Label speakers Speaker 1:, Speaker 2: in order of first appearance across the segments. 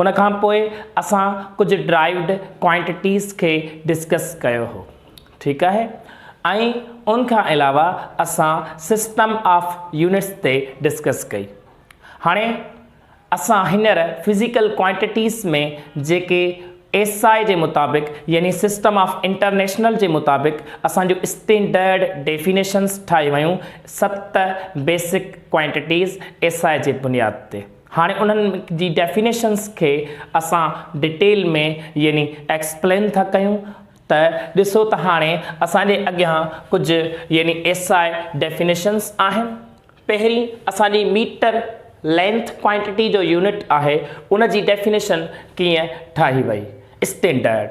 Speaker 1: ان کان پوء اسان ڪجهه ڊرائيوڊ ڪوانٽيٽيز کي ڊسڪس ڪيو هو ٺيڪ آهي ۽ ان کان علاوه اسان سسٽم آف يونٽس تي ڊسڪس ڪئي هاڻي اسان هينئر فزيڪل ڪوانٽيٽيز ۾ جيڪي ايس آء جي مطابق يعني سسٽم آف انٽرنيشنل جي مطابق اسان جون اسٽينڊرڊ ڊيفينيشنز ٺاهي ويون ست بيسڪ ڪوانٽيٽيز ايس آء جي بنياد تي هاڻي انهن جي ڊيفينيشنز کي اسان ڊيٽيل ۾ يعني ايڪسپلين ٿا ڪيون ته ڏسو ته هاڻي اسان جي اڳيان ڪجهه يعني SI ڊيفينيشنز آهن. پهرين اسان جي ميٽر لينٿ ڪوانٽيٽي جو يونٽ آهي ان جي ڊيفينيشن ڪيئن ٺاهي وئي اسٽينڊرڊ.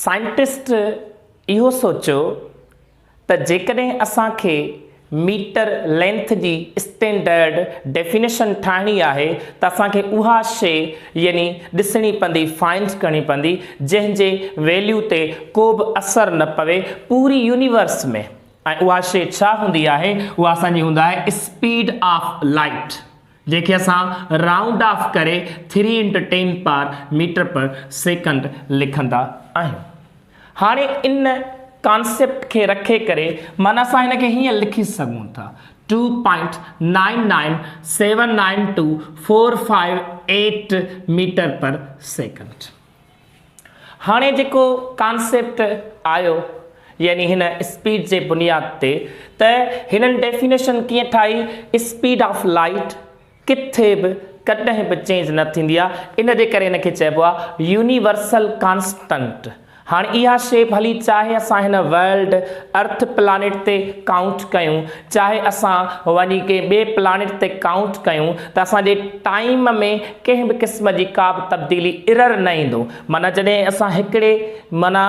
Speaker 1: سائنٽسٽ اهو سوچيو ته جيڪڏهن اسان کي ميٽر لينٿ جي اسٽينڊرڊ ڊيفينيشن ٺاهڻي آهي ته اسان کي اها شيء يعني ڏسڻي پوندي، فائنڊ ڪرڻي پوندي، جنهن جي ويليو تي ڪو به اثر نه پوي پوري يونيورس ۾، ۽ اها شيء ڇا هوندي آهي؟ اها اسان جي هوندي آهي اسپيڊ آف لائيٽ. جنهن کي اسان رائونڊ آف ڪري three into ten power metre per second لکندا آهيون. هاڻي ان ڪانسيپٽ کي رکي ڪري معنيٰ اسان هن کي هيئن لکي سگهون ٿا two point nine nine seven nine two four five eight metre per second. هاڻي جيڪو ڪانسيپٽ آيو يعني هن اسپيڊ جي بنياد تي ته هنن ڊيفينيشن ڪيئن ٺاهي اسپيڊ آف لائيٽ ڪٿي به ڪڏهن به چينج نه ٿيندي آهي ان جي ڪري هن کي چئبو آهي يونيورسل ڪانسٽنٽ هاڻي اها شي ڀلي چاهي اسان هن ورلڊ ارٿ پلانيٽ تي ڪائونٽ ڪيون چاهي اسان وڃي ڪنهن ٻئي پلانيٽ تي ڪائونٽ ڪيون ته اسان جي ٽائيم ۾ ڪنهن به قسم جي ڪا به تبديلي Error نه ايندو معنيٰ جڏهن اسان هڪڙي معنيٰ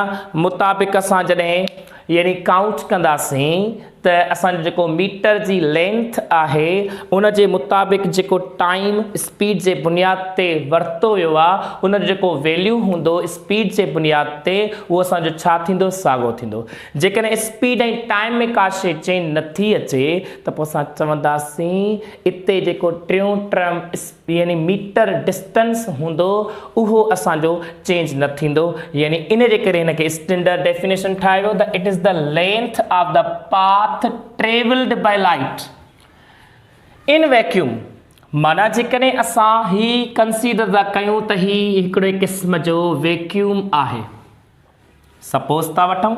Speaker 1: مطابق اسان جڏهن يعني ڪائونٽ ڪنداسين ته اسان جو جيڪو ميٽر جي لينٿ آهي ان جي مطابق جيڪو ٽائيم اسپيڊ جي بنياد تي ورتو ويو آهي ان جو جيڪو ويليو هوندو اسپيڊ جي بنياد تي اهو اسان جو ڇا ٿيندو ساڳو ٿيندو جيڪڏهن اسپيڊ ۽ ٽائيم ۾ ڪا شيء چين نٿي اچي ته پوء اسان چونداسين اتي جيڪو ٽيون ٽرم يعني ميٽر ڊسٽنس هوندو اهو اسان جو چينج نه ٿيندو يعني ان جي ڪري هن کي اسٽينڊرڊ ڊيفينيشن ٺاهي ويو ته it is the length of the path travelled by light in vacuum معنيٰ جيڪڏهن اسان هي ڪنسيڊر ٿا ڪيون ته هي هڪڙي قسم جو ويڪيوم آهي سپوز ٿا وٺون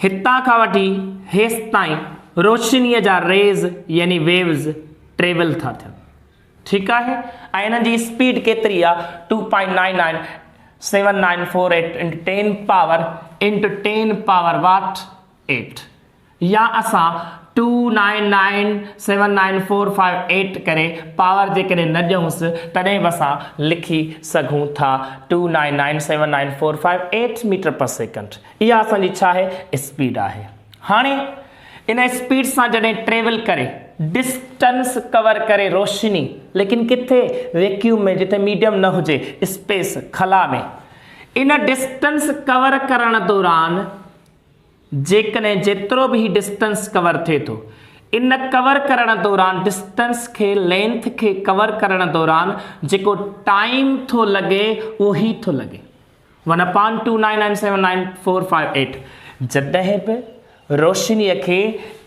Speaker 1: هتان کان وٺي هيستائين روشنيء جا ريز يعني ويوز ٽريول ٿا ٿين ٺيڪ آهي ۽ انهن جي اسپيڊ ڪيتري آهي two point nine nine seven nine four eight into ten power into ten power what eight يا اسان two nine nine seven nine four five eight ڪري پاور جيڪڏهن نه ڏيونس تڏهن به اسان لکي سگهون ٿا two nine nine seven nine four five eight metre per second اها اسان جي ڇا آهي اسپيڊ آهي هاڻي ان اسپيڊ سان جڏهن ٽريول ڪري ڊسٽنس ڪور ڪري روشني ليڪن ڪٿي ويڪيوم ۾ جتي ميڊيم نه هجي اسپيس خلا ۾ ان ڊسٽنس ڪور ڪرڻ دوران جيڪڏهن جيترو به هي ڊسٽنس ڪور ٿئي ٿو ان ڪور ڪرڻ دوران ڊسٽنس کي لينٿ کي ڪور ڪرڻ دوران جيڪو ٽائيم ٿو لڳي اهو هي ٿو لڳي one upon two nine nine seven nine four five eight جڏهن به روشني کي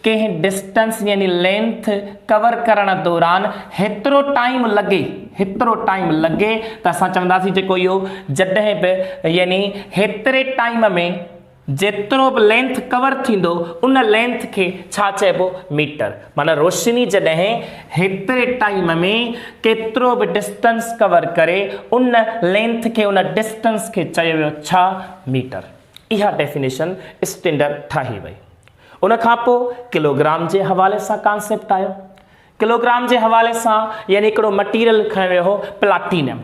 Speaker 1: ڪنهن ڊسٽنس يعني لينٿ ڪور ڪرڻ دوران هيترو ٽائيم لڳي هيترو ٽائيم لڳي ته اسان چونداسين جيڪو اهو جڏهن به يعني هيتري ٽائيم ۾ جيترو به لينٿ ڪور ٿيندو ان لينٿ کي ڇا چئبو ميٽر معنيٰ روشني جڏهن هيتري ٽائيم ۾ ڪيترو به ڊسٽنس ڪور ڪري ان لينٿ کي ان ڊسٽنس کي چيو ويو ڇا ميٽر اها ڊيفينيشن اسٽينڊر ٺاهي وئي ان کان پو ڪلوگرام جي حوالي سان ڪانسيپٽ آيو ڪلوگرام جي حوالي سان يعني هڪڙو مٽيريل کنيو ويو هو پلاٽينم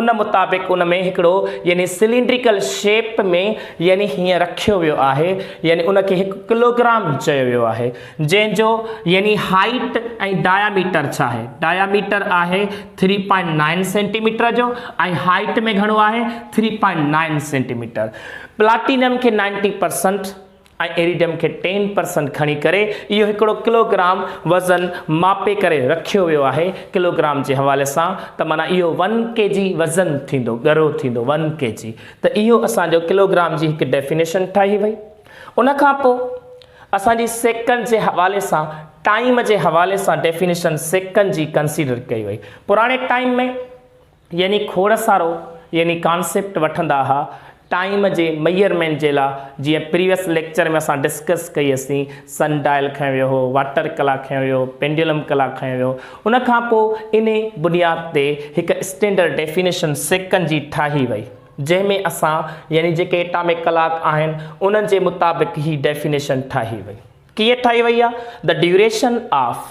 Speaker 1: ان مطابق ان ۾ هڪڙو يعني سلينڊريڪل شيپ ۾ يعني هيئن رکيو ويو آهي يعني ان کي هڪ ڪلوگرام چيو ويو آهي جنهن جو يعني هائيٽ ۽ ڊاياميٽر ڇا آهي ڊاياميٽر آهي ٿري پوائنٽ نائن سينٽيميٽر جو ۽ هائيٽ ۾ گهڻو آهي three point nine centimetre platinum کي نائنٽي پرسنٽ ۽ ايريڊم کي ٽين پرسنٽ کڻي ڪري اهو هڪڙو ڪلوگرام وزن ماپي ڪري رکيو ويو آهي ڪلوگرام جي حوالي سان ته معنيٰ اهو ون ڪي جي وزن ٿيندو ڳرو ٿيندو ون ڪي جي ته اهو اسان جو ڪلوگرام جي هڪ ڊيفينيشن ٺهي وئي ان کان پوء اسان جي سيڪنڊ جي حوالي سان ٽائيم جي حوالي سان ڊيفينيشن سيڪنڊ جي ڪنسيڊر ڪئي وئي پراڻي ٽائيم ۾ يعني کوڙ سارو يعني ڪانسيپٽ وٺندا ها ٽائيم جي ميئرمينٽ جي لا جيئن پريويس ليڪچر ۾ اسان ڊسڪس ڪئي اسين سن ڊائل کنيو ويو هو واٽر ڪلاڪ کنيو ويو هو پينڊيولم ڪلاڪ کنيو ويو ان کان پو انهي بنياد تي هڪ اسٽينڊرڊ ڊيفينيشن سيڪنڊ جي ٺاهي وئي جنهن ۾ اسان يعني جيڪي اٽامڪ ڪلاڪ آهن انهن جي مطابق هي ڊيفينيشن ٺاهي وئي ڪيئن ٺاهي وئي آ the duration of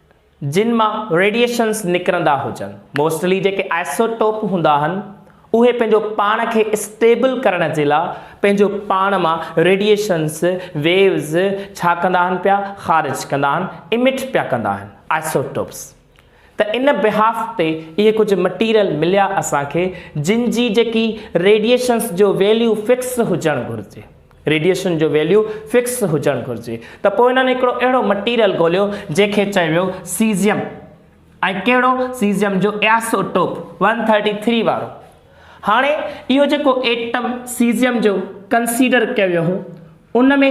Speaker 1: جن مان ريڊيئيشنز نڪرندا هجن. موسٽلي جيڪي آئسوٽوپ هوندا آهن اهي پنهنجو پاڻ کي اسٽيبل ڪرڻ جي لاء پنهنجو پاڻ مان ريڊيئيشنز، ويوز، ڇا ڪندا آهن پيا؟ خارج ڪندا آهن، Emit، پيا ڪندا آهن. آئسوٽوپس. ته ان بيهاف تي اهي ڪجهه مٽيريل مليا اسان کي جن جي جيڪي ريڊيئيشنز جو ويليو فڪس هجڻ گهرجي. ريڊيئيشن جو ويليو فڪس هجڻ گهرجي ته پوء انهن هڪڙو اهڙو مٽيريل ڳوليو جنهن کي چيو ويو سيزيم ۽ ڪهڙو سيزيم جو isotope one thirty three وارو هاڻي اهو جيڪو ايٽم سيزيم جو ڪنسيڊر ڪيو ويو هو ان ۾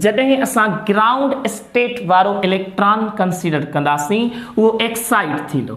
Speaker 1: جڏهن اسان گرائونڊ اسٽيٽ وارو اليڪٽران ڪنسيڊر ڪنداسين اهو ايڪسائيڊ ٿيندو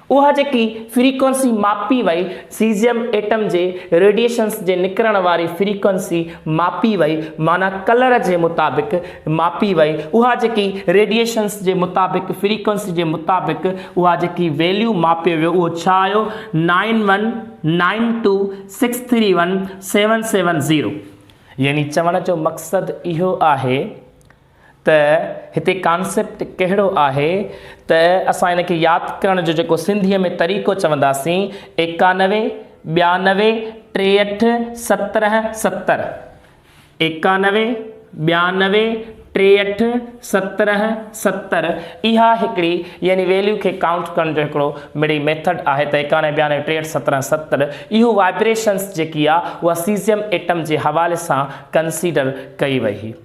Speaker 1: اها جيڪي فريڪوئنسي ماپي وئي، سيزيم ايٽم جي ريڊيئيشنز جي نڪرڻ واري فريڪوئنسي ماپي وئي، معنيٰ ڪلر جي مطابق ماپي وئي، اها جيڪي ريڊيئيشنز جي مطابق فريڪوئنسي جي مطابق اها جيڪي ويليو ماپيو ويو اهو ڇا آيو nine one nine two six three one seven seven zero يعني چوڻ جو مقصد اهو آهي ته هتي ڪانسيپٽ ڪهڙو آهي ته اسان ان کي ياد ڪرڻ جو جيڪو سنڌيء ۾ طريقو چونداسين، ايڪانوي، ٻيانوي، ٽيهٺ، سترهن، ستر. ايڪانوي، ٻيانوي، ٽيهٺ، سترهن، ستر اها هڪڙي يعني ويليو کي ڪائونٽ ڪرڻ جو هڪڙو مڙئي ميٿڊ آهي ته ايڪانوي، ٻيانوي، ٽيهٺ، سترهن، ستر اهو وائبريشنس جيڪي آ اها سيزيم ايٽم جي حوالي سان ڪنسيڊر ڪئي وئي هئي.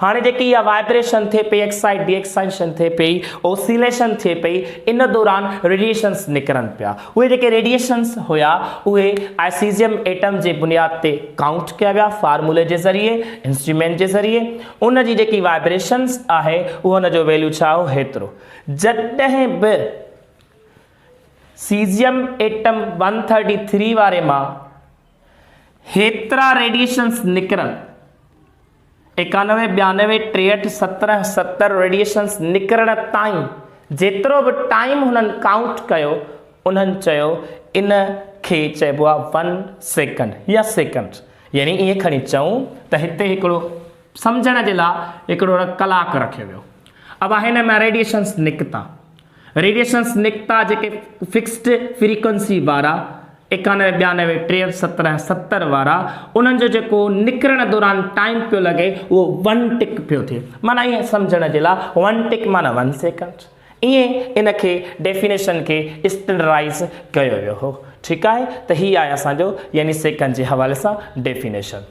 Speaker 1: هاڻي جيڪي اها وائبريشن ٿئي پئي ايڪسائيڊ ڊي ايڪسائيشن ٿئي پئي اوسيليشن ٿئي پئي ان دوران ريڊيئيشنس نڪرن پيا اهي جيڪي ريڊيئيشنس هيا اهي آء سيزيم ايٽم جي بنياد تي ڪائونٽ ڪيا ويا فارمولي جي ذريعي انسٽرومينٽ جي ذريعي ان جي جيڪي وائبريشنس آهي اهو ان جو ويليو ڇا هو هيترو جڏهن به caesium atom one thirty three واري مان هيترا ريڊيئيشنز نڪرن، ايڪانوي، ٻيانوي، ٽيهٺ، سترهن، ستر ريڊيئيشنز نڪرڻ تائين جيترو به ٽائيم هنن ڪائونٽ ڪيو، انهن چيو ان کي چئبو آهي ون سيڪنڊ يا سيڪنڊ. يعني ائين کڻي چئون ته هتي هڪڙو سمجهڻ جي لاء هڪڙو ڪلاڪ رکيو ويو. اب هن مان ريڊيئيشنز نڪتا. ريڊيشنز نڪتا جيڪي فڪسڊ فريڪوئنسي وارا، ايڪانوي، ٻيانوي، ٽيهٺ، سترهن، ستر وارا، انهن جو جيڪو نڪرڻ دوران ٽائيم پيو لڳي اهو ون ٽڪ پيو ٿئي. معنيٰ ائين سمجهڻ جي لاء ون ٽڪ معنيٰ ون سيڪنڊ. ائين ان کي ڊيفينيشن کي اسٽينڊرڊائيز ڪيو ويو هو. ٺيڪ آهي ته هي آهي اسان جو يعني سيڪنڊ جي حوالي سان ڊيفينيشن.